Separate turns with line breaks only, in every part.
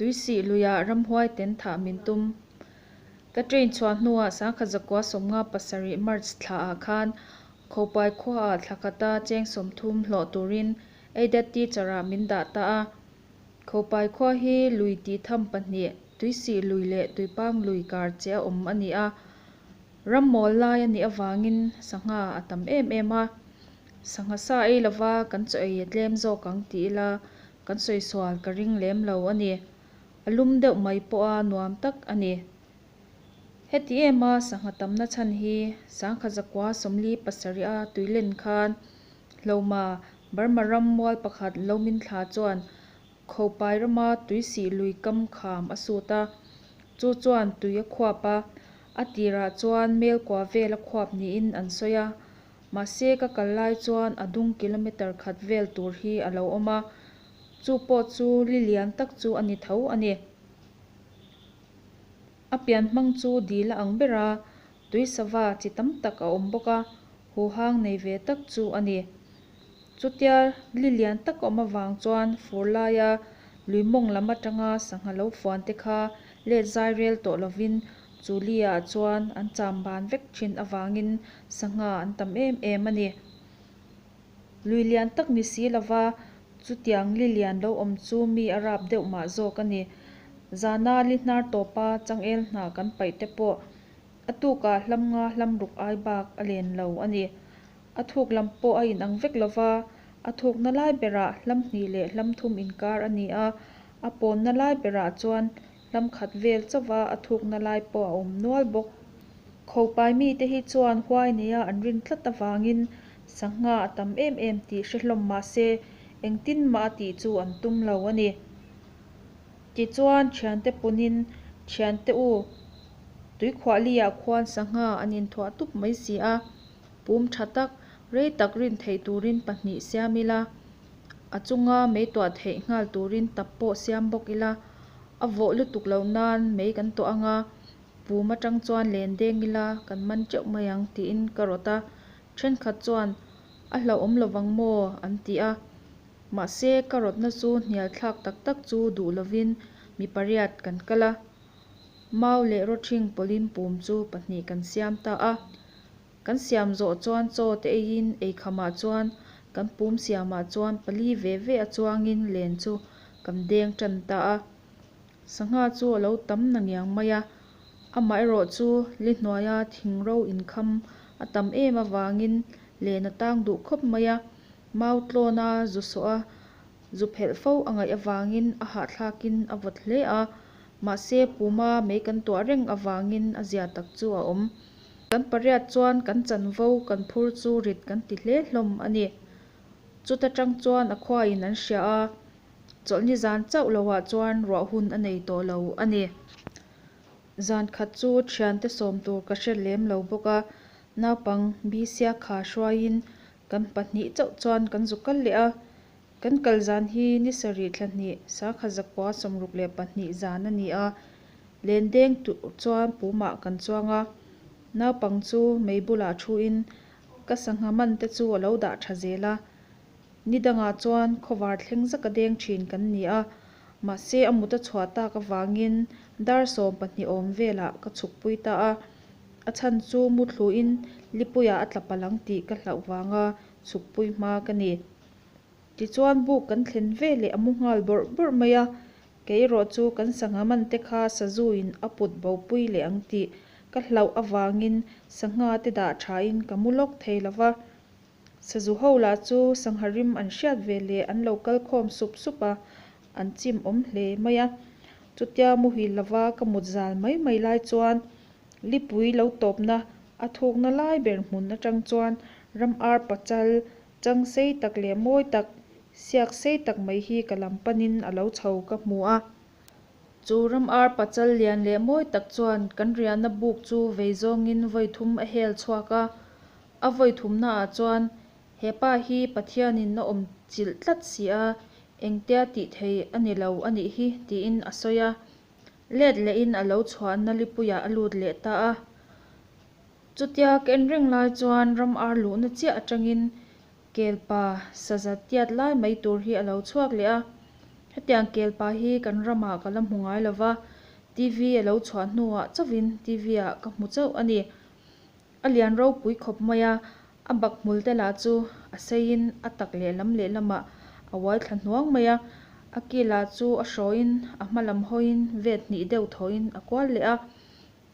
Tuisih luia ramhuai ten thah min tum. Ka train chhuah hnuah sangkhat zakua sawmnga pasarih March thla ah khan Khopai khua ah thla kata cheng sawmthum hlawh turin Aided Teacher ah min dah ta a. Khopai khua hi lui tih tham pahnih, Tuisih lui leh Tuipang lui kar che a awm a ni a. Ram mawl lai a nih avangin sangha a tam em em a. Sangha sa ei lova kan chaw ei a tlem zawk ang tih ila Kan sawisual ka ring lem lo a ni. A lum deuh mai pawh a nuam tak a ni. Heti ema sangha tamna chhan hi Sangha Zakua Sawmli pasarih a tui len khan hloma Burma ram mual pakhat Lo Min Thla chuan Khopai rama tui sih lui kam kham a sut a, chu chuan tui a khuap a, a tirah chuan Melkua vel a khuap niin an sawi a. Mahse ka kal lai chuan a dung kilometer khat vel tur hi a lo awm a, chu pawh chu li lian tak chu a ni tho a ni. A pian hmang chu dil a ang ber a, tui sava chi tam tak a awm bawk a, huhang nei ve tak chu a ni. Chutia li lian tak awm avang chuan fur laia Lui Mawng lam atanga sangha lo fuante kha let zai rel tawh lovin Chu Lia-ah chuan an chamban vek thin avangin sangha an tam em em a ni. Lui lian tak ni si lova, chutiang li lian lo awm chu mi a rap deuh mah zawk a ni. Zana li hnar tawpa changel hna kan paih te pawh a tukah hlam nga hlam ruk ai bak a len lo a ni. A thuk lam pawh a inang vek lova, a thukna lai berah hlam hnih leh hlam thum inkar a ni a, a pawnna lai berah chuan Lam khat vel chauva a thukna lai pawh a awm nual bawk. Khopai mite hi chuan huai neia an rin tlat avangin sangha a tam em em tih hre hlawm mahse engtin mah a tih chu an tum lo a ni. Tichuan thiante punin Thiante u Tuikhuahliah khuan sangha an inthuah tup mai si a, pum tha tak, rei tak rin theih turin pahnih siam ila. a chunga mei tuah theih nghal turin tap pawh siam bawk ila, a vawh lutuk loh nan mei kan tuah anga, Pum atang chuan len deng ila kan man teuh mai ang tiin ka rawt a, thenkhat chuan a hlauhawm lovang maw an ti a, mahse ka rawtna chu hnial thlak tak tak chu duh lovin mi pariat kan kal a, Mau leh Rothing pawlhin Pum chu pahnih kan siam ta a. Kan siam zawh chuan chaw te eiin ei khamah chuan kan pum siamah chuan pali ve ve a chuangin len chu kan deng tan ta a. Sangha chu a lo tam nangiang mai a, amaherawh chu Lihnuaia thing ro inkham a tam em avangin len a tang duh khawp mai a. Mau tlawna zu sawh a zu phelh fo a ngaih avangin a hahthlakin a vawt hle a, mahse puma mei kan tuah reng avangin a zia tak chu a awm. Kan pariat chuan kan chanvo kan phur chu rit kan ti hle hlawm a ni. Chuta tang chuan a khuain an hria a, chawlhni zan chauh lohah chuan ruah hun a nei tawh lo a ni. Zan khat chu thiante sawm tur ka hre lem lo bawk a, naupang bisiakha hruaiin Kan pahnih chauh chuan kan zu kal leh a, kan kal zan hi ni sarih thla hnih, sakha zakua sawmruk leh pahnih zan a ni a. Len deng tu chuan pumah kan chuang a, naupang chu mei bulah thuin ka sangha man te chu a lo dah tha zel a. Ni dangah chuan khawvar thleng zak a deng thin kan ni a, mahse a mut a chhuah tak avangin dar sawm pahnih awm velah ka chhukpui ta a, A chhan chu mu thluin Lipuia a tla palh ang tih ka hlauh vanga chhukpui hma ka ni. Tichuan buk kan thlen ve leh a mu nghal bawrh bawrh mai a, keirawh chu kan sangha man te kha sazuin a put bopui leh ang tih ka hlauh avangin sangha te dah thain ka mu lawk thei lo va. Sazu ho lah chu sangha rim an hriat ve leh an lo kal khawm sup sup a, an chim awm hle mai a. Chutia muhil lova ka mut zal mai mai lai chuan Lipui lo tawpna a thukna lai ber hmun atang chuan ram ar pachal, chang sei tak leh mawi tak, siak sei tak mai hi ka lam panin a lo chho ka hmu a. Chu ram ar pachal lian leh mawi tak chuan kan riahna buk chu vei zawngin vawi thum a hel chhuak a. A vawi thumna ah chuan he pa hi Pathianin a awm chilh tlat si a, engtia tih thei a ni lo a nih hi tiin a sawi a. let lehin a lo chhuah Nalipuia a lut leh ta a. Chutia ka en reng lai chuan ram ar luhna chiah atangin Kelpa saza tiat lai mai tur hi a lo chhuak leh a. Hetiang Kelpa hi kan ramah ka la hmu ngai lo va, TV a lo chhuah hnuah chauhin TV-ah ka hmu chauh a ni. A lian ropui khawp mai a, a bak hmul te lah chu a seiin a tak lehlam lehlamah a uai thla hnuang mai a, a kilah chu a hrawiin a hma lam hawiin vet hnih deuh thawhin a kual leh a,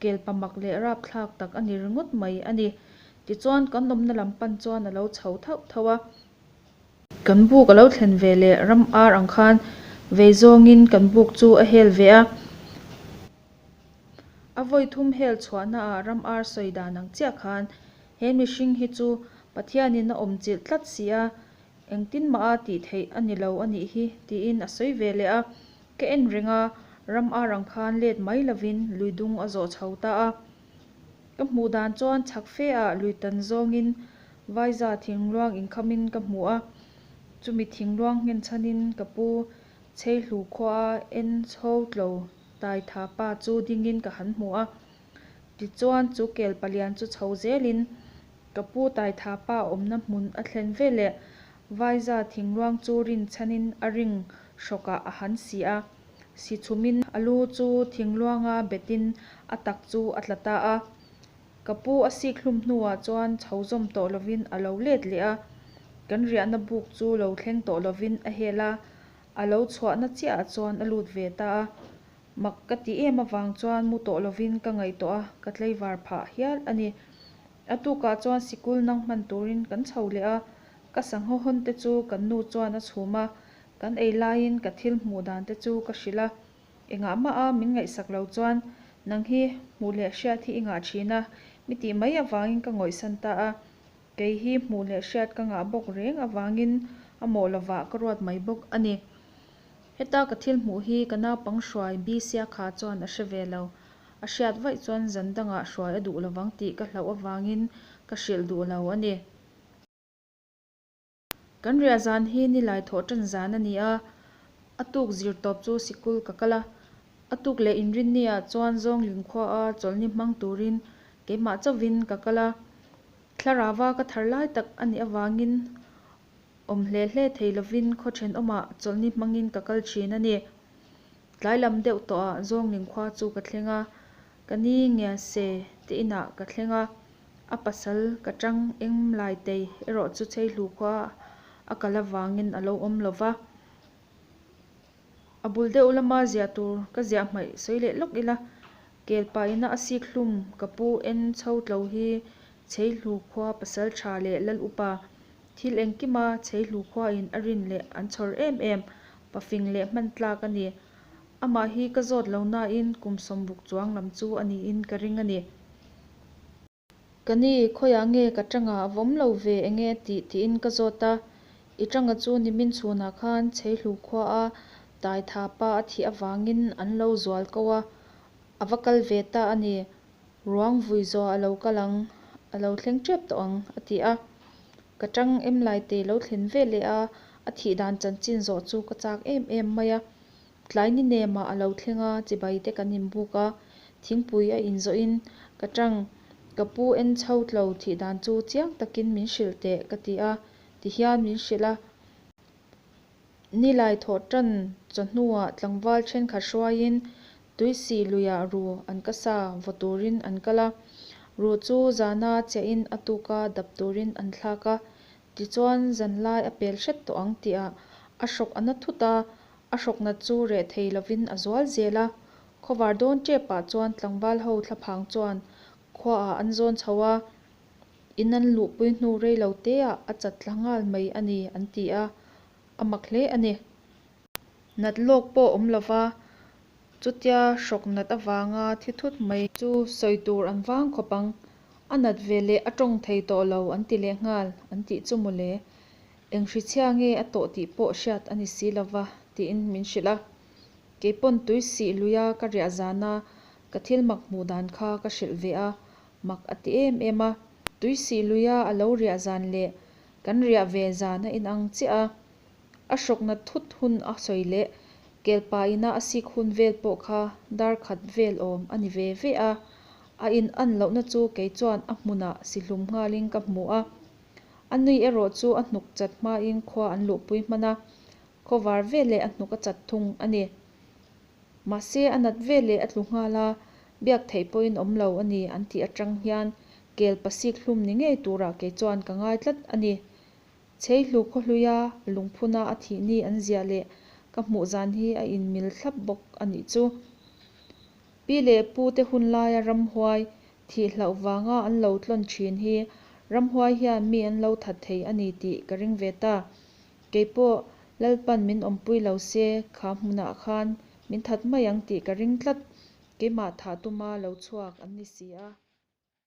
kel pa mak leh rap thlak tak a ni ringawt mai a ni. Tichuan kan awmna lam pan chuan a lo chho thauh thauh a. Kan buk a lo thlen ve leh ram ar ang khan vei zawngin kan buk chu a hel ve a. A vawi thum hel chhuahnaah ram ar sawi dan ang chiah khan, he mihring hi chu Pathianin a awm chilh tlat si a, engtin mah a tih theih a ni lo a nih hi, tiin a sawi ve leh a. Ka en reng a, ram ar ang khan let mai lovin lui dung a zawh chho ta a. Ka hmuh dan chuan chhak fe ah lui tan zawngin Vaiza thingluang inkhamin ka hmu a, chumi thingluang nghenchhanin ka pu Chheihlu khuaa en chho tlo Taitha pa chu dingin ka han hmu a, tichuan chu kel palian chu chho zelin ka pu Taitha pa awmna hmun a thlen ve leh vaiza thingluang chu rin chhanin a ring hrawkah a han si a, si chhumin a lu chu thingluanga betin a tak chu a tla ta a, ka pu a sik hlum hnuah chuan chho zawm tawh lovin a lo let leh a, kan riahna buk chu lo thleng tawh lovin a hel a, A lo chhuahna chiaha chuan a lut ve ta a, mak ka ti em avang chuan mu tawh lovin ka ngaihtuah a, ka tleivar phah hial a ni. A tukah chuan sikul nang hman turin kan chho leh a, ka sangha hawnte chu kan nu chuan a chhum a, kan ei laiin ka thil hmuh dante chu ka hrilh a, engah mah a min ngaihsak lo chuan nang hi hmuh leh hriat hi i ngah thin a, mi tih mai avangin ka ngawihsan ta a. Kei hi hmuh leh hriat ka ngah bawk reng avangin a mawh lovah ka ruat mai bawk a ni. Heta ka thil hmuh hi ka naupang hruai Bisia kha chuan a hre ve lo. A hriat vaih chuan zan dangah hruai a duh lovang tih ka hlauh avangin ka hrilh duh lo a ni. Kan riah zan hi nilai thawh tan zan a ni a, a tuk zir tawp chu sikul ka kal a, a tuk leh inrinni ah chuan zawng linkhua a chawlhni hmang turin keimah chauhin ka kal a, Thlarava ka thar lai tak a nih avangin awm hle hle thei lovin khaw then awmah chawlhni hmangin ka kal thin a ni. Tlai lam deuh tawh ah zawng linkhua chu ka thleng a, ka ni nge se tiin ah ka thleng a, A pasal ka tang eng lai tei erawh chu cheihlu khua a kal avangin a lo awm lo va, a bul deuh lama ziah tur ka ziah hmaih sawi leh lawk ila, kelpa ina a sik hlum ka pu en chho tlo hi cheihlu khua pasal tha leh lal upa thil engkima cheihlu khuain a rin leh an chhawr em em, pa fing leh hman tlak a ni. Amah hi ka zawt lo nain kum sawm buk chuang lam chu a niin ka ring a ni. Ka ni, khawiah nge ka tanga a vawm lo ve enge tih tiin ka zawt a, i tanga chu nimin chhunah khan Chheihlu khuaa tai tha pa a thih avangin an lo zual ko a, a va kal ve ta a ni, ruang vui zawh a lo kal ang, a lo thleng tep tawh ang a ti a, ka tang em lai te lo thlen veleh a, a thih dan chanchin zawh chu ka chak em em mai a, Tlai ni nemah a lo thlenga chibai te kan inbuk a, thingpui a inzawh in ka tang, ka pu en chho tlo thih dan chu chiang takin min hrilh teh ka ti a, ti hian min hrilh a, ni lai thawh tan chawhnuah tlangval thenkhat hruaiin tui sih luiha ru an ka sa vaw turin an kal a, ru chu zana chiah in a tuka dap turin an thlak a, tichuan zanlai a pel hret tawh ang tih ah a hrawk a na thut a, A hrawknat chu reh thei lovin a zual zel a, khawvar dawn tep pah chuan tlangval ho thla phang chuan khua ah an zawn chho a, in an luh pui hnu rei lo te ah a chat tla nghal mai a ni an ti a, a mak hle a ni. Nat lawk pawh awm lo va, chutia hrawknat avang a thi thut mai. Chu sawi tur an vang khawp ang, a nat veleh a tawng thei tawh lo an ti leh nghal an tih chu mawle, Eng hrichhia nge a tawh tih pawh hriat a ni si lova tiin min hrilh a, keipawn tui sih luia ka riah zana ka thil mak hmuh dan kha ka hrilh ve a, mak a ti em em a, tui sih luia a lo riah zan leh kan riah ve zan a inang chiah a, a hrawkna thut hun a sawi leh kelpa ina a sik hun vel pawh kha darkhat vel awm a ni ve ve a, a in an lohna chu kei chuan a hmunah si hlum nghalin ka hmu a. A nui erawh chu a hnuk chat hmain khua an luhpui hman a, khawvar ve leh a hnuk a chat thung a ni. Mahse, a nat ve leh a tlu nghal a, biak theih pawhin awm lo a ni an tih atang hian kel pasik hlum ni ngei turah kei chuan ka ngai tlat a ni. Chhei hlu khaw hluia a lungphuna a thihni an ziah leh ka hmuh zan hi a inmil thlap bawk a nih chu. Pi leh Pu te hun laia ramhuai thih hlauh vanga an lo tlawn thin hi ramhuai hian mi an lo that thei a ni tih ka ring ve ta. Kei pawh Lalpan min awmpui lo se, kha hmunah khan min that mai ang tih ka ring tlat. Keimah thah tuma lo chhuak an ni si a.